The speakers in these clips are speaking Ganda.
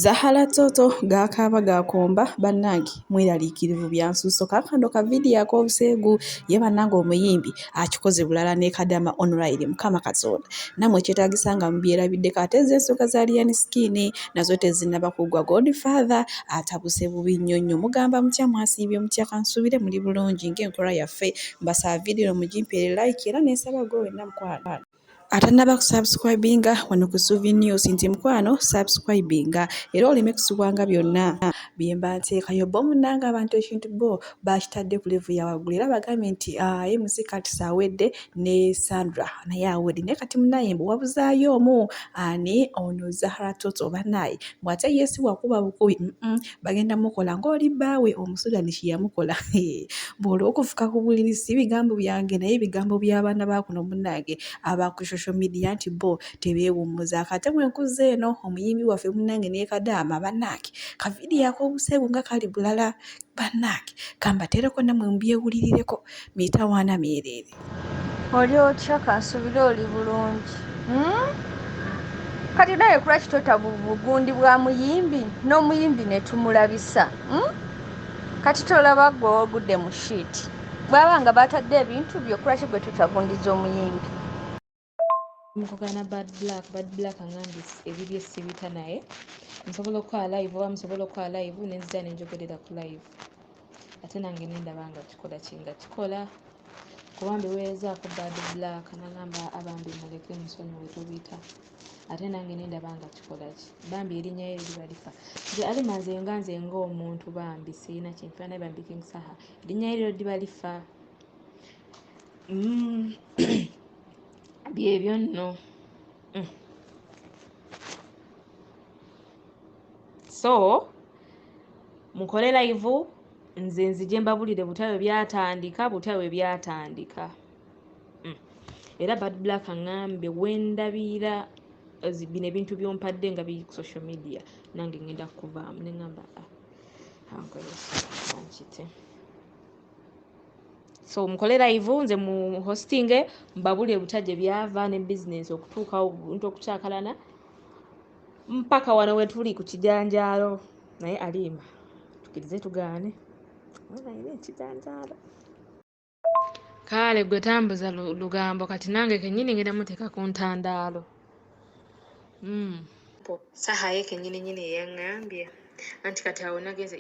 Zahala Toto gaakaaba gaakomba bannange mweraliikirivu byansusso kaakano ka vidiyo ak'obuseegu ye bannange omuyimbi akikoze bulala ne kadama online mukama katonda namwe kyetaagisa nga mubyerabiddeko ate ezo ensonga za lian skin nazo tezinnaba kuggwa god father atabuse bubi nnyo nnyo mugamba mutya mwasiibye mutya kansuubire muli bulungi ng'enkola yaffe mbasaba vidiyo mugimpeere like era nensaba gwe wenna mukwano atanaba kusubscribinga wano ku Suvi News nti mukwano subscribinga era oleme kusubwanga byonna byemba nteekayo bo munanga abantu ekintu bo bakitadde ku levu ya waggulu era bagambye nti ah, MC Kats awedde ne Sandra naye awedde naye kati munaye mbu wabuzaayo omu ani ono Zahara Toto banaye bw'ate yesi wakuba bukubi bagenda mukola ng'oli bbaawe omusudani kye yamukola bw'olwa okufuka ku buliri si bigambo byange naye bigambo by'abaana ba kuno munnange aba ku social media nti bo tebeewummuza kate bwe nkuzza eno omuyimbi waffe munnange ne kadaama bannaange kavidiyo ak'obuseegu nga kali bulala bannaange kambateereko nammwe mubyewulirireko mitawaana myereere oli otya kansubire oli bulungi hmm? kati naye kulwaki tota bugundi bwa muyimbi n'omuyimbi netumulabisa hmm? kati tolaba gwe ogudde mu shiiti bwaba nga batadde ebintu byokulwaki gwe totagundiza omuyimbi mukugana bad black bad black angambye ebibye sibita naye nsobola okukola live oba musobola okukola live nenzija nenjogerera ku live ate nange nendaba nga kikola kinga kikola kuba mbiweerezaako bad black nagamba abambi muleke musonyiwe tobita ate nange nendaba nga kikola ki bambi erinya ye liba lifa nze alima nze nga nze ngaomuntu bambi sirina kinfana bambi king saha erinya ye liro liba lifa mm. byebyo nno mm. so mukole laivu nze nzije mbabulire butya bwe byatandika butya bwe byatandika mm. era bad black aŋambe wendabira bino ebintu byompadde nga biri ku social media nange ngenda kukuvaamu neŋamba ah, ankole ah, ankite so mukole live nze mu hostinge mbabuli ebuta gye byava ne business okutuukawo buntu okukyakalana mpaka wano wetuli ku kijanjaalo naye alimba tukirize tugaane naye ekijanjaalo kaale gwe tambuza lugambo kati nange kenyini ngenda muteeka ku ntandaalo mm. saha ye kenyini nyini eyaŋŋambye anti kati awo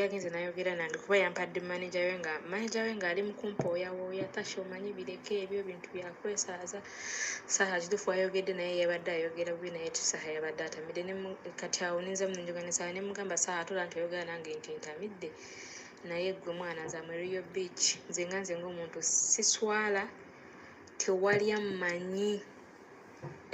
yagenze nayogera nange kuba yampadde maneja we nga maneja we ngaali mukumpooyawooya tasha omanyi bireka ebyo bintu byakwesaaza saha kitufu ayogedde naye yabadde ayogera bubi naye saha yabadde atamidde kati awo ninza munenjoganesaa nemugamba saha tola nti oyogera nange nti ntamidde naye gwe mwana nze amariyo beach nze nga nze ngaomuntu siswala tewalya manyi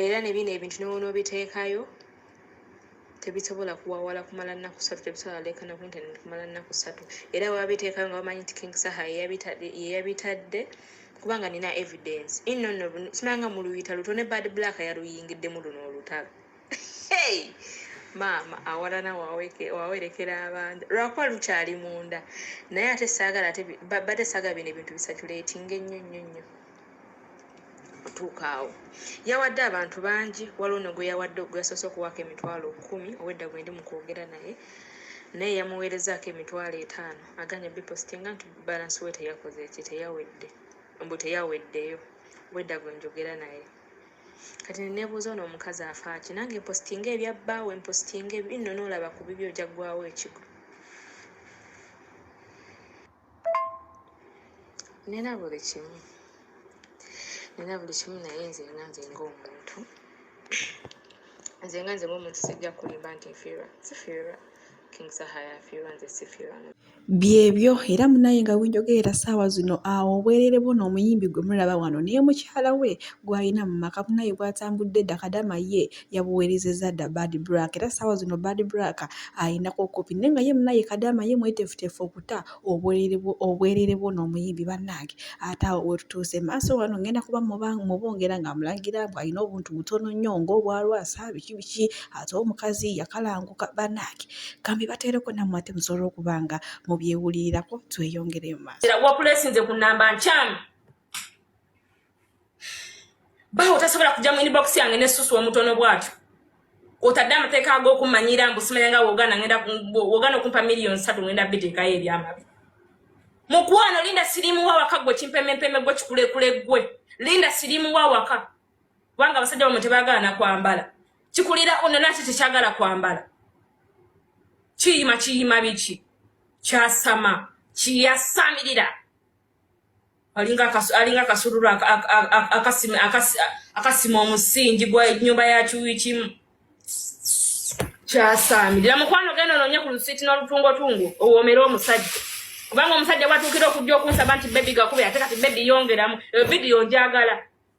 era ne bino ebintu newonoobiteekayo tebisobola kuwawala kumala nnaku ssatu tebisobola leekana ku intaneti kumala nnaku ssatu era wabiteekayo nga bamanyi nti king saha yeyabitadde kubanga nina evidence inno nno simanga mu luyita luto ne bad black yaluyingiddemu luno olutalo hey! maama awalana wawerekera abantu lwakuba lukyali munda naye ate saagala bade saaga bino ebintu bisaculatinga ennyo nnyo nnyo okutuuka awo yawadde abantu bangi waliwo no gwe yawadde ogweyasoose okuwaako emitwalo kumi owedda gwe ndi mu kwogera naye naye yamuweerezaako emitwalo etaano aganya bipositinga nti balansi we teyakoze eki teyawedde mbu teyaweddeyo wedda gwe njogera naye kati nenebuuza ono omukazi afaaki nange mpositinga ebyabbaawe mpositinga ebinno noolaba ku bibyo ojja ggwawo ekigo nina buli kimu nina buli kimu naye nze nga nze ngaomuntu nze nga nze ngaomuntu sijja kulimba nti nfiirwa sifiirwa byebyo era munaye nga wenjogerera saawa zino awo obwerere bwo n'omuyimbi gwe mulaba wano naye mukyala we gwalina mu maka munaye gwatambudde dda kadama ye yabuweerezezza dda Bad Black era ssaawa zino Bad Black alinako kkopi naye nga ye munaye Kadaama ye mweteefuteefu okuta obwereere bw'ono omuyimbi bannange ate awo wetutuuse maaso wano ngenda kuba mubongera ng'amulangira mbu alina obuntu butono nnyo ng'obwalwasa biki biki ate omukazi yakalanguka bannange kambi bateereko nammwe ate musobola okuba nga mubyewulirirako tweyongere mu maaso wakulesinze ku nnamba nkyamu bawo tasobola kujja mu inbox yange ne susu omutono bwatyo otadde amateeka ag'okummanyira mbu simanya nga wogana ngenda wogana okumpa miliyoni satu ngenda biteekayo ebyamabi mukwano linda sirimu wa waka gwe kimpemempeme gwe kikulekule gwe linda sirimu wa waka kubanga abasajja bamwe tebagala nakwambala kikulira ono naki tekyagala kwambala kiyima kiyima biki kyasama kiyasamirira alinga kasululu akasima omusingi gwa nyumba ya kiwikimu kyasaamirira mukwano genda ononye ku lusiiti n'olutungotungo owomere omusajja kubanga omusajja bwatuukira okujja okunsaba nti bebi gakuba ate kati bebi yongeramu eyo vidiyo njagala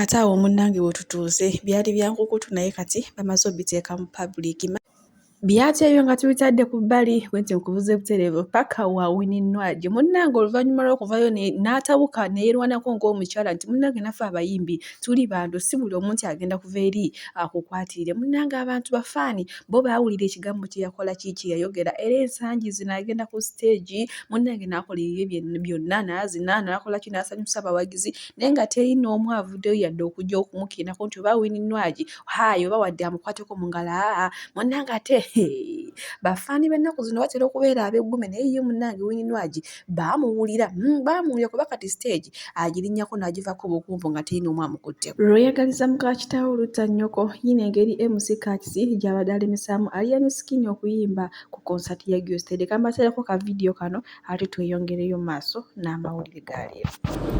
Ate awo munnange we tutuuze byali bya nkukutu naye kati bamaze obiteeka mu public. Byati ebyo nga tubitadde ku bbali bwe nti nkubuze butereevu paka wa wininwagi munnange oluvannyuma lw'okuvayo n'atabuka neyeerwanako ng'omukyala nti munnange naffe abayimbi tuli bantu si buli omu nti agenda kuva eri akukwatirire munnange abantu bafaani bo baawulira ekigambo kye yakola ki kye yayogera era ensangi zino agenda ku siteegi munnange n'akola ebibye byonna n'azina n'akola ki n'asanyusa abawagizi naye nga teri n'omu avuddeyo yadde okujja okumukirako nti oba wini nwagi hayi oba wadde amukwateko mu ngalo aa munange ate bafaani b'ennaku zino batera okubeera ab'eggume naye ye munange wini nwagi baamuwulira hmm, baamuwulira kuba kati siteegi agirinyako n'agivako obukumvu nga teri n'omu amukutteko lweyagaliza muka kitaawo olutta nnyoko yina engeri mc kakisi gy'abadde alemesamu aliyani sikini okuyimba ku konsati ya gyosteede kambateereko ka vidiyo kano ate tweyongereyo maaso n'amawulire ga leero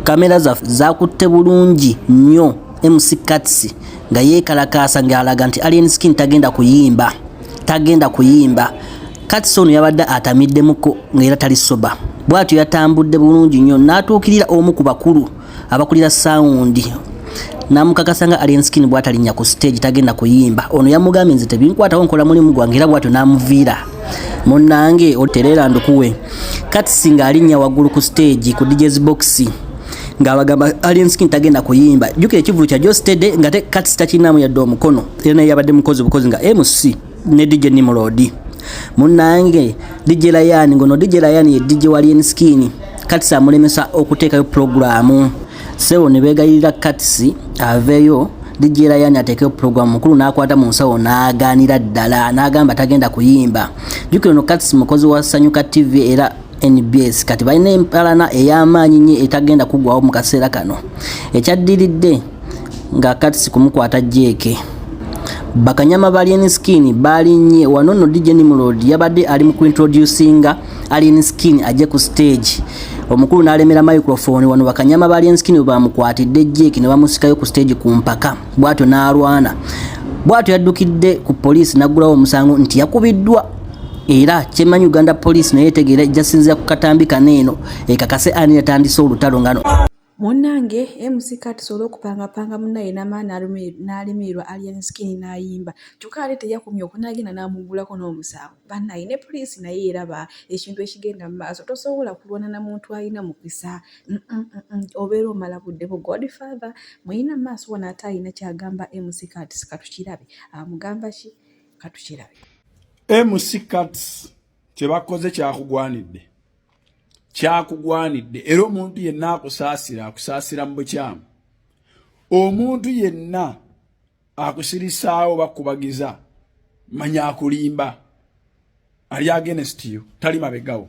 kamera zaffe zakutte bulungi nnyo mc kats nga yeekalakaasa ng'alaga nti alien skin tagenda kuyimba tagenda kuyimba kats ono yabadde atamiddemuko ng'era tali soba bw'atyo yatambudde bulungi nnyo n'atuukirira omu ku bakulu abakulira sound namukakasa nga Alien Skin bwatalinya ku stage tagenda kuyimba ono yamugambye nze tebinkwatawo nkola mulimu gwange era bwatyo namuviira munnange otereera ndukuwe katisi ng'alinnya waggulu ku stage ku DJ's box ng'abagamba Alien Skin tagenda kuyimba jjukira ekivulu kya Joe Steady nga katisi takirinamu yadde omukono era naye yabadde mukozi bukozi nga MC ne DJ Nimrod munange DJ Lion ngono DJ Lion ye DJ wa Lion Skin kati samulemesa okuteekayo programu sebo ne beegayirira katisi aveeyo dijira yani ateekeyo pulogulaamu mukulu n'akwata mu nsawo n'agaanira ddala n'agamba tagenda kuyimba jukira ono katisi mukozi wa sanyuka tv era nbs kati balina empalana ey'amaanyi nnyo etagenda kuggwawo mu kaseera kano ekyaddiridde nga katisi kumukwata jeeke bakanyama ba alien skin balinnye wano no dj nimrod yabadde ali mu kuintroducinga alien skin ajje ku stage omukulu n'alemera microphone wano bakanyama ba alien skin bwebamukwatidde jeeke ne bamusikayo ku stage ku mpaka bwatyo n'alwana bwatyo yaddukidde ku poliisi n'aggulawo omusango nti yakubiddwa era kyemanyi uganda poliisi naye etegeera ejjasinzira ku katambi kaneeno ekakase ani yatandise olutalo ngano Munange MC Kati sobola okupanga panga munaye namala nalimirirwa Alien Skin nayimba kyokka ate teyakomye okwo nagenda namugulako n'omusango banaye ne police naye eraba ekintu ekigenda mu maaso tosobola kulwana na muntu alina mukisa mm, mm, mm, obeera omala budde bu Godfather muyina maaso wano ate alina kyagamba MC Kati katukirabe amugamba ki katukirabe MC Kati kyebakoze kyakugwanidde kyakugwanidde era omuntu yenna akusaasira akusaasira mu bukyamu omuntu yenna akusirisaawo bakubagiza manya akulimba ali agenest yo tali mabegawo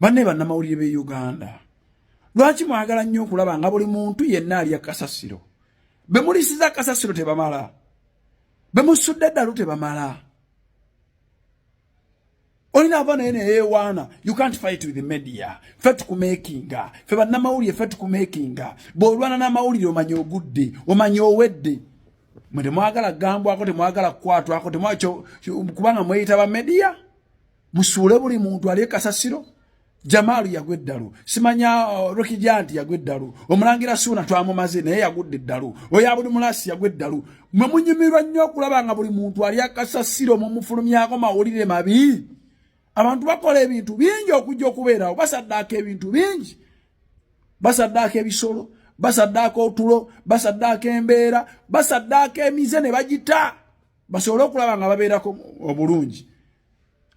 banne bannamawulire b'e uganda lwaki mwagala nnyo okulaba nga buli muntu yenna alya kasasiro bemulisiza kasasiro tebamala bemusudde eddalu tebamala olina ava naye neyewaana you can't fight with media fe tukumakinga fe bannamawulire fe tukumakinga bw'olwana n'amawulire omanya ogudde omanya owedde mwe temwagala kugambwako temwagala kukwatwako kubanga mweyita ba media musuule buli muntu ali kasasiro jamaalu yagwa eddalu simanya uh, rokijanti yagwa eddalu omulangira suuna twamumaze naye yagudde eddalu oyo abuli mulasi yagwa eddalu mwe munyumirwa nnyo okulaba nga buli muntu ali akasasiro mumufulumyako mawulire mabi abantu bakola ebintu bingi okujja okubeerawo basaddaaka ebintu bingi basaddaaka ebisolo basaddaaka otulo basaddaaka embeera basaddaaka emize ne bagita basobole okulaba nga babeerako obulungi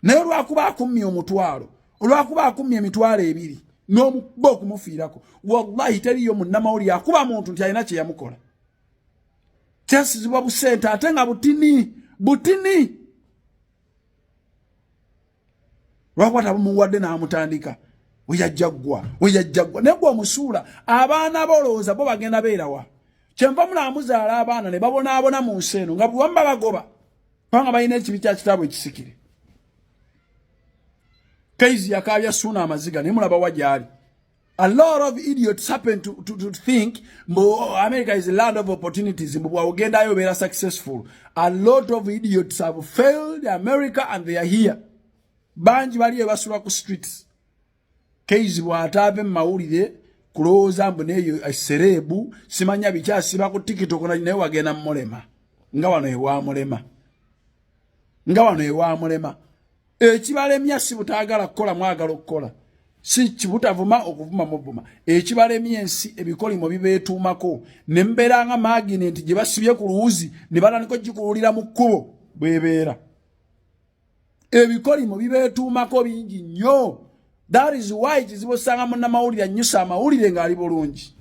naye olwakuba akummye omutwalo olwakuba akummye emitwalo ebiri n'omukuba okumufiirako wallahi teriyo munnamawulire akuba muntu nti alina kye yamukola kyasizibwa busente ate nga butini butini lwakuba tabumuwadde n'amutandika weyajjaggwa weyajjaggwa naye gwe omusuula abaana bolowooza bo bagenda beerawa kyenva mulaamuzaala abaana ne babonaabona mu nsi eno nga bwewamba bagoba Panga bayina ekibi kya kitabu ekisikire. Kaizi yakabya suna amaziga ne mulaba wajali. A lot of idiots happen to, to, to think mbo America is a land of opportunities mbo wagenda ayo bela successful. A lot of idiots have failed America and they are here. Banji bali ebasura ku streets. Keizi bw'ataave mu mawulire kulowooza mbu neeyo esereebu eh, simanya biki asiba ku tikitoko nali naye wagenda mumulema nga wano ewamulema nga wano ewamulema ekibalemya si butaagala kukola mwagala okukola si kibutavuma okuvuma muvuma ekibalemya ensi ebikolimo bibeetuumako ne mbeera nga maginenti gye basibye ku luwuzi ne batandika okugikuwulira mu kkubo bwebeera ebikolimo bibeetuumako bingi nnyo that is why kizibu osanga munnamawulire annyusa amawulire ng'ali bulungi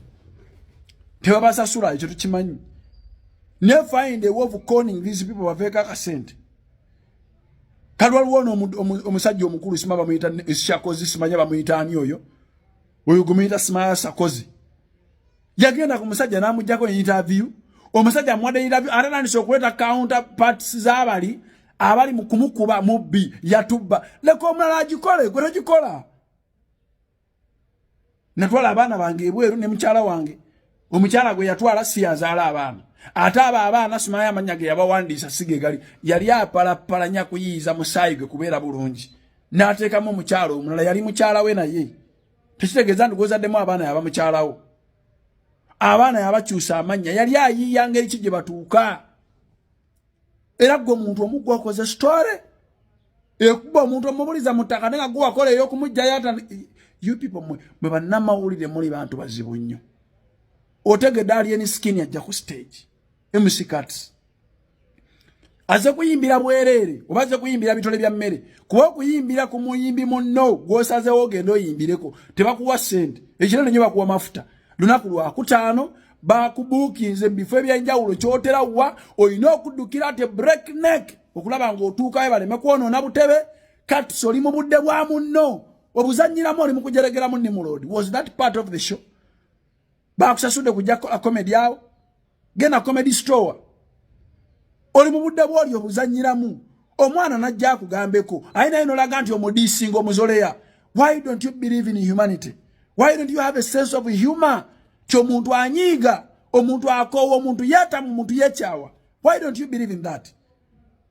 tebabasasula ekyo tukimanyi ne find a way of conning these people baveeko akasente kali waliwo ono omusajja omukulu sima bamuyita eshakozi simanya bamuyita ani oyo oyo gumuyita simaya sakozi yagenda ku musajja n'amuggyako interview omusajja amuwadde interview ate nandisa okuleeta counter parts z'abali abali mu kumukuba mubbi yatubba leka omulala agikole gwe togikola natwala abaana bange ebweru ne mukyala wange omukyala gwe yatwala si yazaala abaana ate abo abaana simayo amanya ge yabawandiisa sige gali yali apalapalanya kuyiiza musaayi gwe kubeera bulungi n'ateekamu omukyala omulala yali mukyala we naye tekitegeeza nti gwozaddemu abaana yaba mukyalawo abaana yabakyusa amannya yali ayiiya ngeri ki gye batuuka era gwe muntu omugwa okoze story ekuba omuntu omubuliza mu ttaka nenga gwe wakola ey'okumugjayo ata you people mwe mwe bannamawulire muli bantu bazibu nnyo otegedde ali eni skin ajja ku stage MC Kats aze kuyimbira bwerere oba aze kuyimbira bitole bya mmere kuba okuyimbira ku muyimbi munno gwosazewo ogenda oyimbireko tebakuwa sente ekirano nyo bakuwa mafuta lunaku lwakutaano bakubuukinze mu bifo ebyenjawulo kyotera wa olina okuddukira te break neck okulaba ng'otuukayo baleme kwonoona butebe kati soli mu budde bwa munno obuzannyiramu oli mu kujeregeramu nimuloodi was that part of the show bakusasudde kujja kukola comedy awo genda comedy store oli mu budde bwoli obuzanyiramu omwana najja akugambeko aye naye nolaga nti omudiisinga omuzoleya why don't you believe in humanity why don't you have a sense of humor ti omuntu anyiiga omuntu akoowa omuntu yatamu omuntu yekyawa why don't you believe in that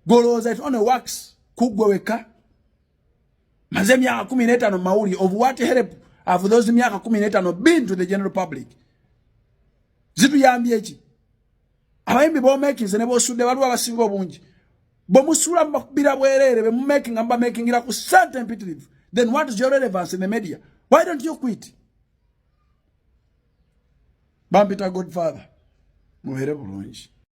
golowooza it only works kuggwe wekka Maze myaka kumi n'etaano mawuli of what help have those myaka kumi n'etaano been to the general public? Zituyambye ki? Abayimbi b'omekinze ne b'osudde waliwo abasinga obungi. Bwe musuula mubakubira bwereere be mumekinga mubamekingira ku ssente empitirivu. Then what is your relevance in the media? Why don't you quit? Bampita Godfather, mubeere bulungi.